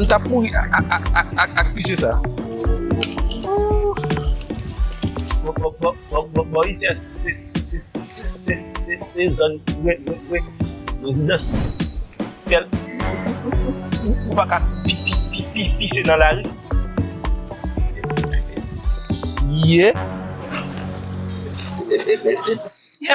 M tap mouri ak pise sa. Bon isi a se zòn rezidansyèl. Ou pa ka pise nan lari. Siye. Siye.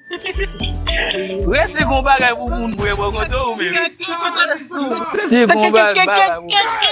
Red si gon bagay pou moun bwe bò kote ou menm. Si gon bagay pou moun bwe.